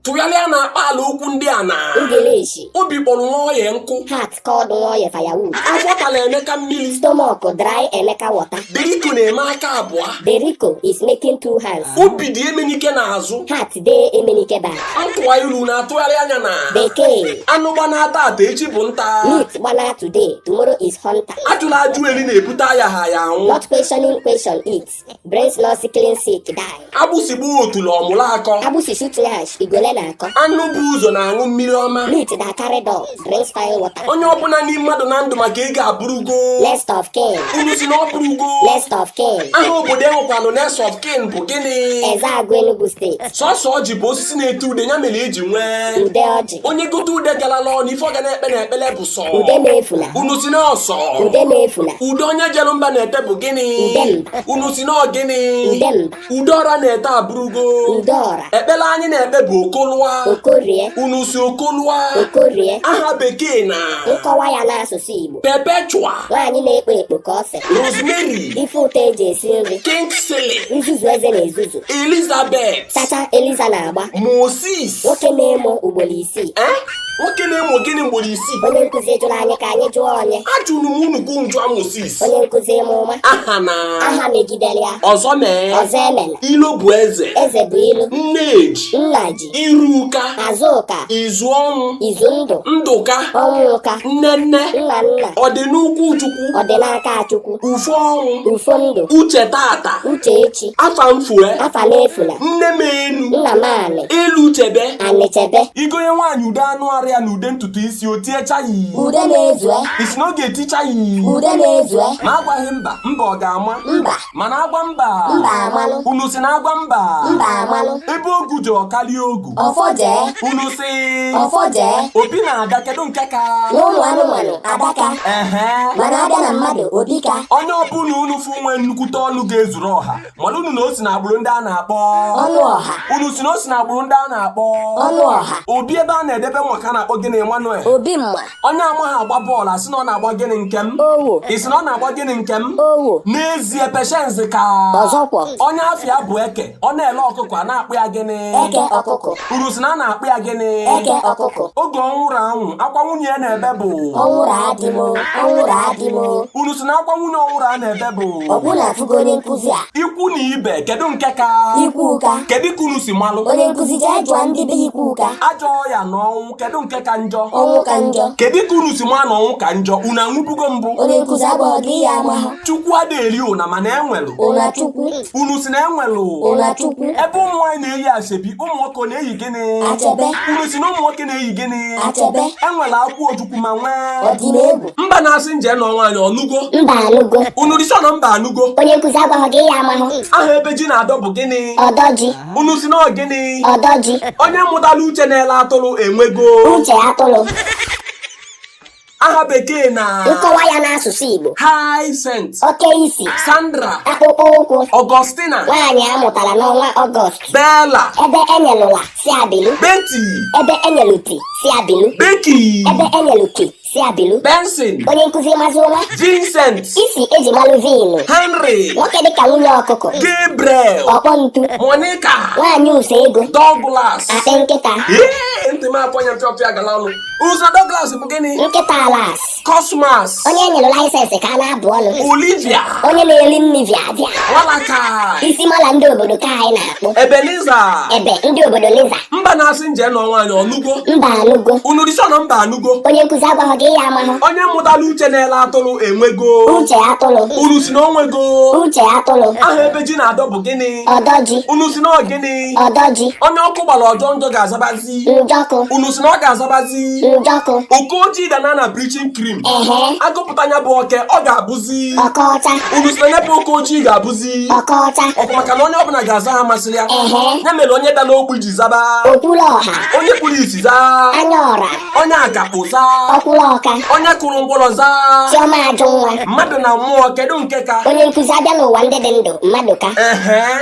tụgharịa na akpa ala okwu ndị a na Ngilishi. obi kpọrọ Nwoye nkụ Heart called Nwoye firewood. afọ tara emeka mmiri Stomach dry Emeka water. deriko na-eme aka abụọ Deriko is making two hands. obi dị emenike n'azụ Heart dey Emenike back. ntụwa ilu na-atụgharị anya na Bekee. anụ gbanaa tata echi bụ nta Meat gbana today, tomorrow is hunter. ajụla ajụ eri na-ebute ayagha aya anwụ Not questioning question eat. Brings not sicking sick die. agbụsị gbaa otule ọ mụrụ akọ Agbụsị shoot nyash, e go learn akọ. anụ bu ụzọ na-aṅụ mmiri ọma Meat that carry door, drinks fine water. onye ọbụla na-eni mmadụ na ndụ maka ego abụrụgo Next of kin, unu si na ọ bụrụgo next of kin. aha obodo enwekwanụ next of kin bụ gịnị Ezeagụ Enugu State. sọsọ ọjị bụ osisi na-eto ude ya mere eji nwee Ude ọjị. onye gote ude galala ọnụ ife ọ ga na-ekpe na ekpele bụ sọ Ude m efula. unu si na ọ sọ Ude m efula. ude onye jere mba na-ete bụ gịnị Udemba. unu si na ọ gịnị Udemba. ude ọra na-ete abụrụgo Ude ọra. ekpele anyị na-ekpe bụ Oko lụa Okorie. unu si Oko lụa Okorie. aha bekee na Nkọwa ya n'asụsụ Igbo. perpetua Nwaanyị na-ekpo ekpo ka ose. rosemary Ife ụtọ eji esi nri. kingsley Nzuzu eze na-ezuzu. elizabeth Chacha Eliza na-agba. moses nwoke na-emo ugboro isii ee nwoke na-emo gịnị ugboro isii onye nkụzi jụrụ anyị ka anyị jụọ onye ajụrụ m unu ka unu jụa Moses onye nkụzi ịma ụma aha na aha megidere ya ọzọ mee ọzọ emela ilo bụ eze eze bụ ilo nneji nnaji iruka azụka izu ọnwụ izu ndụ ndụka ọnwụka nne nne nna nna ọdịnụkwụ chukwu ọdịnaka chukwu ufo ọnwụ ufo ndụ uche tata uche echi afa m fue afa m efula nne m enu nna m anị enu chebe anị chebe i gonye nwaanyị ude anụ arụ ya na ude ntutu isi o tie chaị ude m ezue i si na ọ ga-eti chaị ude m ezue ma agwaghị mba mba ọ ga-ama mba mana agwa mba Mba amalụ. unu si na agwa mba mba amalụ ebe ogu jere ọ karịa ogu ọfọje unu si ọfọje obi na ada kedu nke ka n'ụmụ anụmanụ adaka ehe mana abịa na mmadụ obika onye ọbụla unu fụ nwee nnukwute ọnụ ga-ezuru ọha maranụ na o si na agbụrụ ndị a na-akpọ ọnụ ọha unu si na o si na agbụrụ ndị a na-akpọ ọnụ ọha obi ebe a na-edebe mma ka a na-akpọ gịnị Emmanuel obi mma onye amaghị agba bọọlụ asị na ọ na-agba gịnị Nkem Owoh i si na ọ na-agba gịnị Nkem Owoh n'ezie Patience ka ọzọkwọ onye afịa bụ eke ọ na-ele ọkụkọ a na-akpọ ya gịnị eke ọkụkọ unu si na a na-akpọ ya gịnị eke ọkụkọ oge Ọnwụra nwụrụ akwa nwunye ya na-ebe bụ Ọnwụra di m Ọnwụra di m unu si na akwa nwunye Ọnwụra na-ebe bụ ọgwụ na-atụgo onye nkụzi a ikwu na ibe kedu nke ka Ikwuka kedu ka unu si malụ onye nkụzi jee jụọ ndị be Ikwuka ajọ ọya na ọnwụ kedu nke ka njọ ọnwụ ka njọ kedu ka unu si maa na ọnwụ ka njọ unu anwụbugo mbụ onye nkụzi agwaghọ gị ya amahụ chukwu adịghị eri ụna mana enwelụ ụna chukwu unu si na enwelụ ụna chukwu ebe ụmụ nwaanyị na-eyi asebi ụmụ nwoke ọ na-eyi gịnị achebe unu si na ụmụ nwoke na-eyi gịnị achebe enwere akwụ ojukwu ma nwee odumegwu mba na-asị nje nụọ nwaanyị ọ nụgo mba anụgo unu si na mba anụgo onye nkụzi agwaghọ gị ya amahụ aha ebe ji na-adọ bụ gịnị ọdọ ji unu si na ọ gịnị ọdọ ji onye mụtara uche na-ele atụrụ enwego uche atụrụ aha bekee na nkọwa ya n'asụsụ igbo Hyacinth oke isi Sandra akpụkpọ ụkwụ Augustina nwaanyị a mụtara n'ọnwa ọgọst Bella ebe enyelụ la si ya bilu Betty ebe enyelụ ti si ya bilu Becky ebe enyelụ ki si ya bilu benson onye nkụzi mazi ụma vincent isi eji malụ vin henry nwoke dịka nwunye ọkụkọ gabriel ọkpọ ntu monica nwaanyị ụsọ ego douglas akpị nkịta Ee, ntị m afụ anya m pịọpịa gala ọnụ unu si douglas bụ gịnị nkịta alas cosmas onye enyere laịsensị ka a na-abụ ọnụ olivia onye na-eri nri via via nwalaka isi mala ndị obodo ka anyị na ebenezer ebe ndị obodo liza mba na-asị nje nụọ nwaanyị ọ nụgo mba anụgo unu si na mba anụgo onye nkụzi agwaghọ gị ya amahụ onye mụtara uche na-ele atụrụ enwego uche atụrụ unu si na o nwego uche atụrụ aha ebe ji na-adọ bụ gịnị ọdọ ji unu si na ọ gịnị ọdọ ji onye ọkụ gbara ọ jọọ njọ ga-azabazi unu si na ọ ga-azabazi okoji danaa na bleaching cream agụpụta nya bụ oke ọ ga-abụzi unu si na nya bụ okoji ga-abụzi ok maka na onye ọbụla ga-aza aha masịrị ya ya mere onye dara ogbi ji zaba onye kpuru isi zaa onye akakpọ zaa onye kụrụ ngwọrọ zaa mmadụ na mmụọ kedu nke ka onye nkụzi abịa n'ụwa ndị dị ndụ mmadụ ka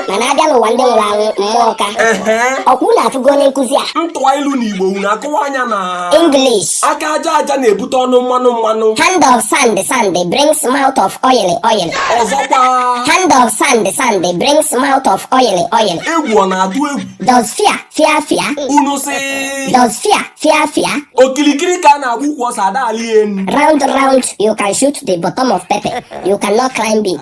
mana abịa n'ụwa ndị nwụrụ anwụ mmụọ ka ehe ọkwa unu afụgo onye nkụzi a m tụa ilu na igbo unu akọwaa ya na English aka aja aja na-ebute ọnụ mmanụ mmanụ hand of sand sand brings mouth of oil oil ọzọkwa hand of sand sand brings mouth of oil oil egwu ọ na-atụ egwu does fear fear fear unu si does fear fear fear okirikiri ka a na-agba ukwu ose ada alị enu round round you can shoot the bottom of pepper you cannot climb it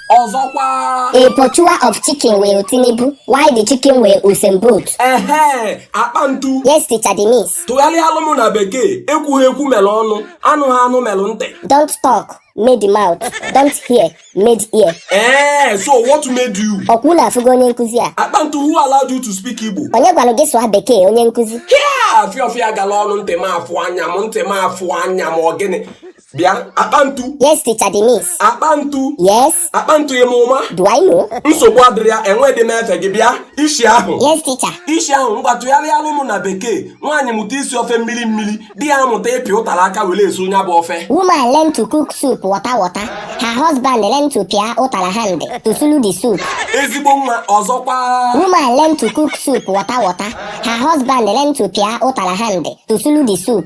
ọzọkwa A pursuer of chicken will Tinubu while the chicken will Usain Bolt. ehe akpa ntu Yes, teacher, the miss. tụgharịalụ m na bekee ekwughị ekwu mere ọnụ anụghị anụ mere ntị Don't talk, made mouth. Don't hear, made ear. ee so what made you Ọkwa unu afụgo onye nkụzi a? akpa ntu who allowed you to speak igbo Onye gwara gị sụọ bekee onye nkụzi? hia afịa ọfịa gala ọnụ ntị m afụ anya m ntị m afụ anya m ọ gịnị bịa akpantu Yes, teacher Denise. akpantu Yes. akpantu ị ma ụma Do I know? nsogbu adịrọ ya enwedị m efe gị bịa isi ahụ Yes, teacher. isi ahụ ngwa tụgharịalụ mụ na bekee nwaanyị mụta isi ofe mmiri mmiri di ya mụta ịpị ụtara aka were esu onye bụ ofe Woman learn to cook soup water water. Her husband learn to pịa ụtara hand to sulu the soup. ezigbo nwa ọzọkwa Woman learn to cook soup water water. Her husband learn to pịa ụtara hand to sulu the soup.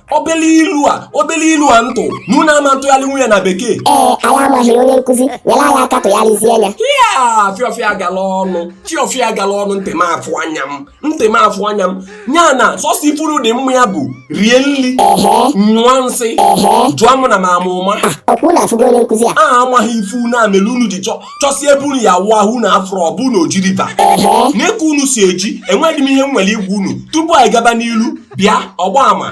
obele ilu a obele ilu a m tụ na unu ama ntụgharịnwu ya na bekee ee anyị amaghị onye nkụzi nyere anyị aka tụgharịzie ya ya fiọfịa gala ọnụ fiọfịa gala ọnụ ntị m afụ anya m ntị m afụ anya m ya na sọsọ ife unu dị mma ya bụ rie nri nyụọ nsị jụọ mụ na m ama ụma ọkwa unu afụgo onye nkụzi a a amaghị ife unu a mere unu ji chọsi ebe unu ya-awụ ahụ unu afụrọ ọ bụ na Oji River n'eke unu si eji enweghị m ihe m nwere ịgwa unu tupu anyị gaba n'ilu bịa ọgba ama